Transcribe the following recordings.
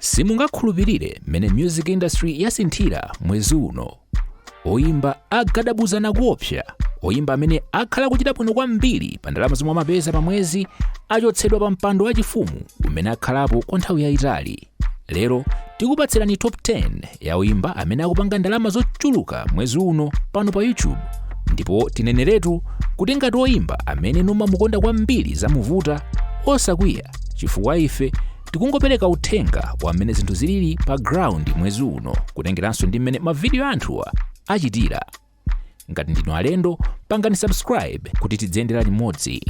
simungakhulupirire mmene music industry yasinthira mwezi uno oyimba agadabuzana kuopsa oyimba amene akhala akuchita bwino kwambiri pa ndalama zomwe amapeza pa mwezi achotsedwa pa mpando wachifumu umene akhalapo kwa nthawi yayitali lero tikupatsirani top 10 ya oyimba amene akupanga ndalama zochuluka mwezi uno pano pa youtube ndipo tineneretu kuti ngati oyimba amene mumamukonda kwambiri zamuvuta osakwiya chifukwa ife tikungopereka uthenga wa mmene zinthu zilili pa ground mwezi uno kutengeranso ndi mmene mavidiyo a anthuwa achitira ngati ndinu alendo pangani subscribe kuti tidziyendera limodzi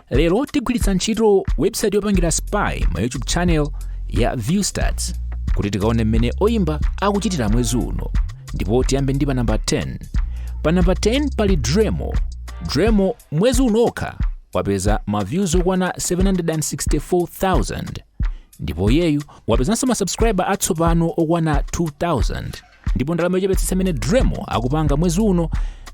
lero tigwiritsa ntchito website yopangira spy ma youtube channel ya viewstats kuti tikaone mmene oyimba akuchitira mwezi uno ndipo tiyambe ndi pa namba 10 pa namba 10 pali driemo driemo Mwezi uno okha wapeza ma views okwana 764,000 ndipo iyeyu wapezanso ma subscriber atsopano okwana 2,000 ndipo ndalama yochepetsetsa imene Driemo akupanga mwezi uno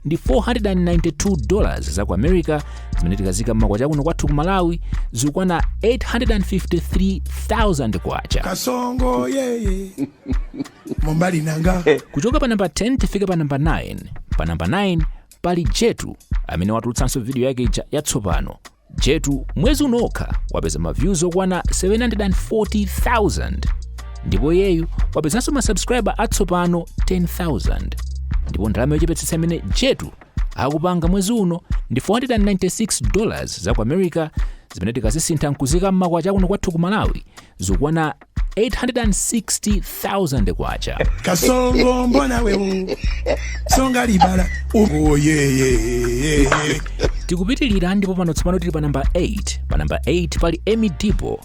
ndi 492 dollars za ku America zimene tikazika m'makwacha kuno kwathu ku Malawi zikukwana 853,000 kwacha. kasongo yeye mobali na nga kuchoka pa namba 10 tifike pa namba 9 pa namba 9 pali jetu amene watulutsanso vidiyo yake ija yatsopano jetu mwezi uno okha wapeza ma views okwana 740000 ndipo iyeyu wapezanso ma subscriber atsopano 10000 ndipo ndalama yochepetsetsa imene jetu akupanga mwezi uno ndi 496 dollars za ku america zimene tikazisintha nkuzika mmakwacha kuno kwathu ku malawi zikukwana 860,000 kwacha. kasongo mbona wewe songa libala eboyi ye tikupitirira ndipo pano tsopano tili pa namba 8 pa namba 8 pali emmie deebo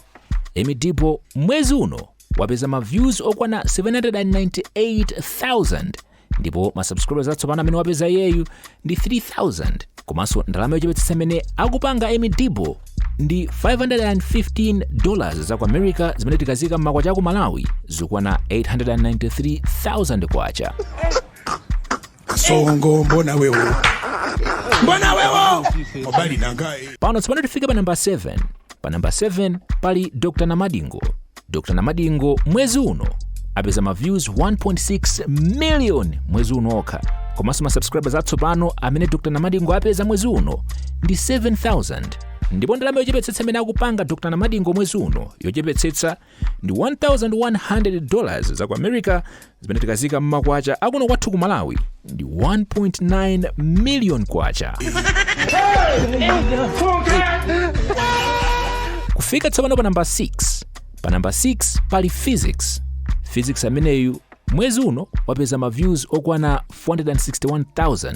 emmie deebo mwezi uno wapeza ma views okwana 798,000 ndipo ma subscribers atsopano amene wapeza iyeyu ndi 3000 komanso ndalama yochepetsetsa imene akupanga emmie deebo ndi 515 dollars za ku america zimene tikazika m'makwacha aku malawi zikwana 893000 kwacha kasongo mbona wewe mbona wewe mobali na ngai pano tsopano tifike pa namba 7 pa namba 7 pali dr namadingo dr namadingo mwezi uno apeza ma views 1.6 million mwezi uno okha komanso ma subscribers atsopano amene dr namadingo apeza mwezi uno ndi 7000 ndipo ndalama yochepetsetsa imene akupanga dr namadingo mwezi uno yochepetsetsa ndi 1100 dollars za ku america zimene tikazika mmakwacha akuno kwathu ku malawi ndi 1.9 million kwacha kufika tsopano pa namba 6 pa namba 6 pali piksy piksy ameneyu mwezi uno wapeza ma views okwana 461000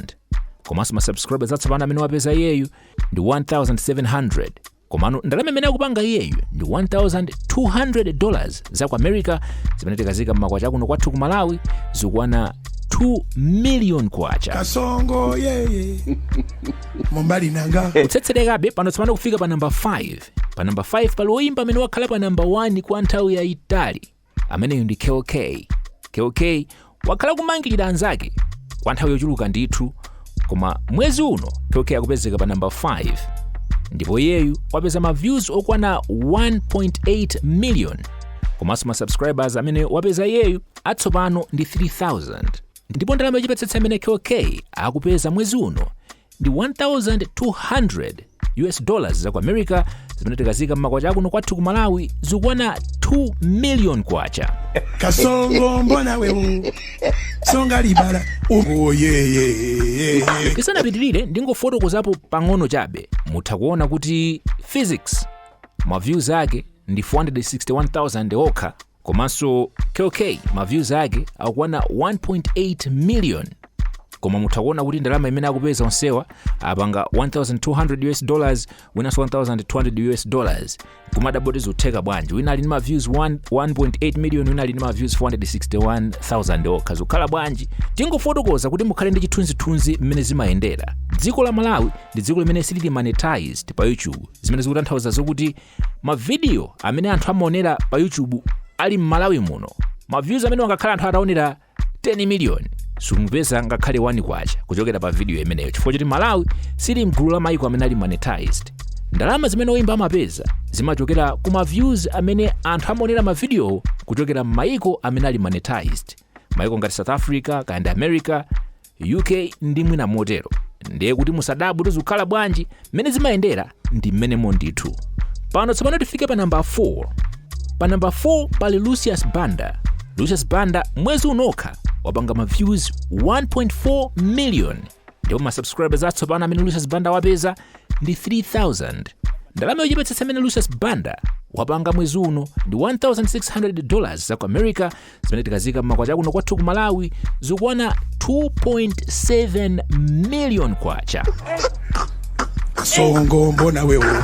komanso ma subscribers atsopano amene wapeza iyeyu ndi 1700 komano ndalama imene akupanga iyeyu ndi 1200 dollars za ku america zimene tikazika mmakwacha akuno kwathu ku malawi zikwana 2 million kwacha kasongo yeye mobali na ngai kutsetserekabe pano tsopano kufika pa namba 5 pa namba 5 pali woyimba amene wakhala pa namba 1 kwa nthawi yayitali ameneyu ndi kell kay kell kay wakhala kumangirira anzake kwa nthawi yochuluka ndithu koma mwezi uno kell kay akupezeka pa namba 5 ndipo iyeyu wapeza ma views okwana 1.8 million komanso ma subscribers amene wapeza iyeyu atsopano ndi 3000 ndipo ndalama yochepetsetsa imene kell kay akupeza mwezi uno ndi 1200 us dollars za ku america zimene tikazika mmakwacha akuno kwathu ku malawi zikwana 2 million kwacha kasongo mbona wewo songa libala oh yeye tisanapitirire ndingofotokozapo pang'ono chabe mutha kuona kuti piksy ma views ake ndi 461000 okha komanso kell kay ma views ake akukwana 1.8 million koma mutha kuona kuti ndalama imene akupeza onsewa apanga 1200 us dollars winanso 1200 us dollars kumadaboti zikutheka bwanji wina ali ndi ma views 1.8 million wina ali ndi ma views 461000 okha zikukhala bwanji ndingofotokoza kuti mukhale ndi chithunzithunzi mmene zimayendera dziko la malawi ndi dziko limene silili monetized pa youtube zimene zikutanthauza zokuti mavidiyo amene anthu amaonera pa youtube ali m'malawi muno maviews amene angakhale anthu ataonera 10 miliyoni simupeza ngakhale 1 kwacha kuchokera pa vidiyo imeneyo chifukwa choti malawi sili mgulu la maiko amene ali monetized ndalama zimene oyimba amapeza zimachokera ku maviews amene anthu amaonera mavidiyowo kuchokera m'maiko amene ali monetized maiko ngati south africa kaya ndi america UK ndi mwina motero ndiye kuti musadabwe kuti zikukhala bwanji mmene zimayendera ndi mmenemo ndithu pano tsopano tifike pa namba 4 pa namba 4 pali lucius banda lucius banda mwezi unokha wapanga ma views 1.4 million ndipo ma subscribers atsopano amene lucius banda wapeza ndi 3000 ndalama yochepetsetsa imene lucius banda wapanga mwezi uno ndi 1600 dollars za ku america zimene tikazika mmakwacha akuno kwathu ku malawi zikukwana 2.7 million kwacha kasongo mbona wewo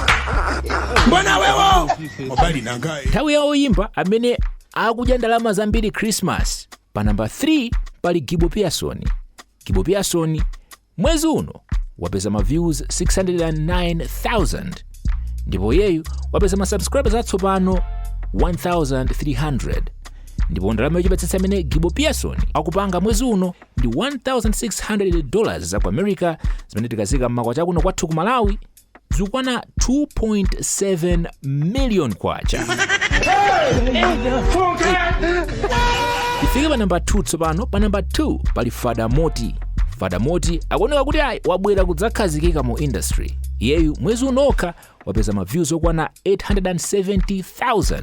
mbona wewo mobali nangaye nthawi ya oyimba amene akudya ndalama zambiri christmas pa namba 3 pali gibo pearson gibo pearson mwezi uno wapeza ma views 609000 ndipo iyeyu wapeza ma subscribers atsopano 1300 ndipo ndalama yochepetsetsa imene gibo pearson akupanga mwezi uno ndi 1600 dollars za ku america zimene tikazika mmakwacha kuno kwathu ku malawi zikukwana 2.7 million kwacha tifike pa namba 2 tsopano pa namba 2 pali fada moti fada moti akuoneka kuti ayi wabwera kudzakhazikika mu industry iyeyu mwezi unokha wapeza ma views okwana 870000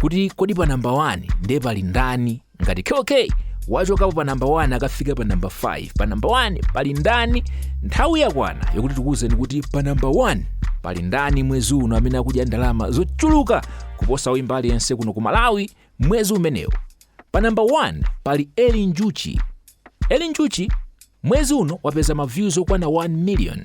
kuti kodi pa namba 1 nde pali ndani ngati KOK wachokapo pa namba 1 akafika pa namba 5 pa namba 1 pali ndani nthawi yakwana yokuti tikuwuzeni kuti pa namba 1 pali ndani mwezi uno amene akudya ndalama zochuluka kuposa oyimba aliyense kuno ku malawi mwezi umenewu pa namba 1 pali eli njuchi eli njuchi mwezi uno wapeza maviews okwana 1 million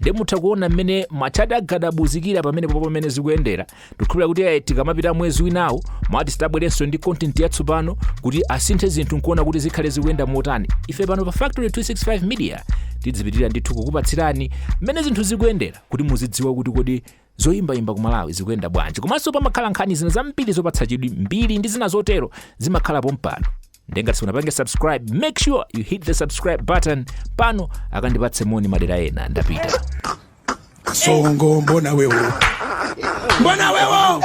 nde mutha kuona mmene matchati agadabuzikira pamenepo pomwe zikuyendera tikukhulupira kuti eh, tikamapita mwezi winawo maatisti abwerenso ndi content yatsopano kuti asinthe zinthu nkuona kuti zikhale zikuyenda motani ife pano pa factory 265 media tidzipitiriza ndithu kukupatsirani mmene zinthu zikuyendera kuti muzidziwa kuti kodi zoyimbayimba ku malawi zikuyenda bwanji komanso pamakhala nkhani zina zambiri zopatsa chidwi mbiri ndi zina zotero zimakhala pompano nde ngati simunapange subscribe make sure you hit the subscribe button pano akandipatse moni madera ena ndapita kasongo mbona wewo mbona wewo